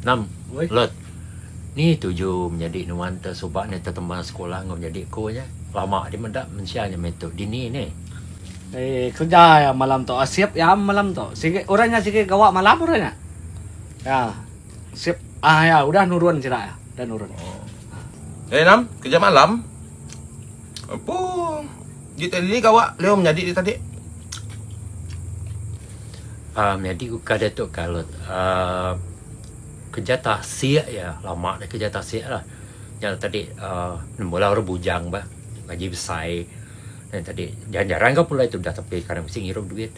Nam, Lot. Ni tuju menyadi nuan te suba ne tetemba sekula enggau nyadi ku nya? Lama di meda mensia nya meh tu. Dini ne? Ai kerja iya malam tu. Shift iya malam tu. Sigi orang nya sigi gawa malam orang nya. Iya. Shift ai iya udah nurun sida iya. Udah nurun. Ai Nam, kerja malam? Apo? Di tadi ni gawa leo menyadi di tadi. Ah, uh, menyadi ku kada tu kalut. Ah, uh, kerja tasik ya, lama dah kerja tasik lah. Ya tadi ah, uh, mula orang bujang bah, lagi besai. Dan tadi jarang-jarang kau pulai tu dah tapi kadang mesti ngirup duit.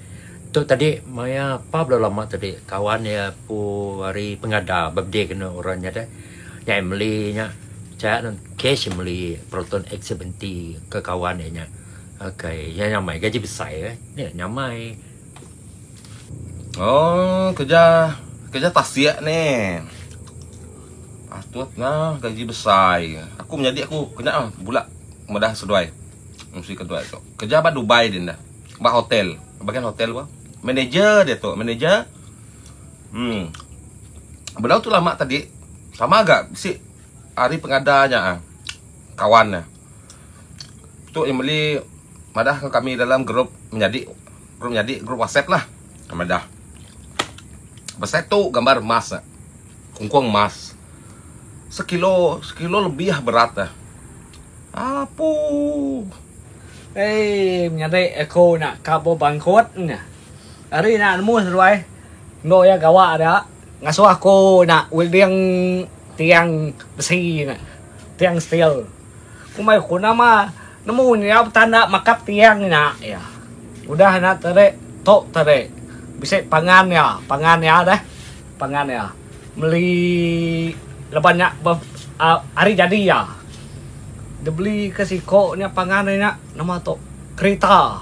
Tu tadi maya apa belum lama tadi kawan ya pu hari pengada birthday kena orang nya deh. Nya iya meli nya cha nun cash meli proton X seventy ke kawan iya nya. Okay, iya nya mai gaji besai eh. Ni nya mai. Oh, kerja kerja tasik ni. Atut nya gaji besai. Aku menyadi aku kena ah bula medah seduai. Mesti keduai tu. Kerja ba Dubai din dah. Ba hotel. Bagian hotel bah. Manager dia tu, manager. Hmm. Benda tu lama tadi. Sama ga bisi hari pengada nya ah. Kawan nya. Tu yang meli madah ke kami dalam grup menyadi grup menyadi grup WhatsApp lah. Madah. Besai tu gambar emas. Ah. Kungkung emas. Sekilo, sekilo lebih ah berat ah. Apu. Hei, menyadi aku nak kabu bangkut nya. Hari nak nemu seduai. Enggau iya gawa da ngasuh aku ina welding tiang besi nya. Tiang steel. Ku mayuh ku nama nemu nya betanda makap tiang nya iya. Udah nya tadi tu tadi bisi pangan iya, pangan iya deh. Pangan iya meli laban nya uhh hari jadi iya. Dep beli ke siko nya pangan iya nya nama tu kereta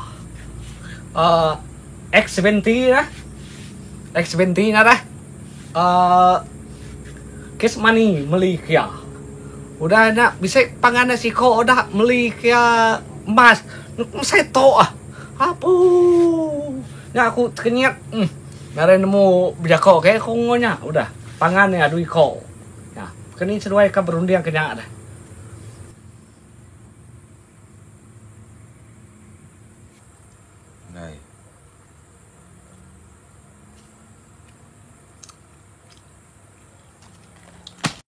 uhh. X seventy lah. X seventy nah dah. Uh, kes money meli kia. Udah nak bisa pangan dah siko udah meli kia emas. Mesai to ah. Apu. Nya aku tekenyit. Hmm. Ngaran nemu bejako ke aku ngonya udah. Pangan ni adu iko. Ya. Keni seduai ka berunding kenya dah. Nai.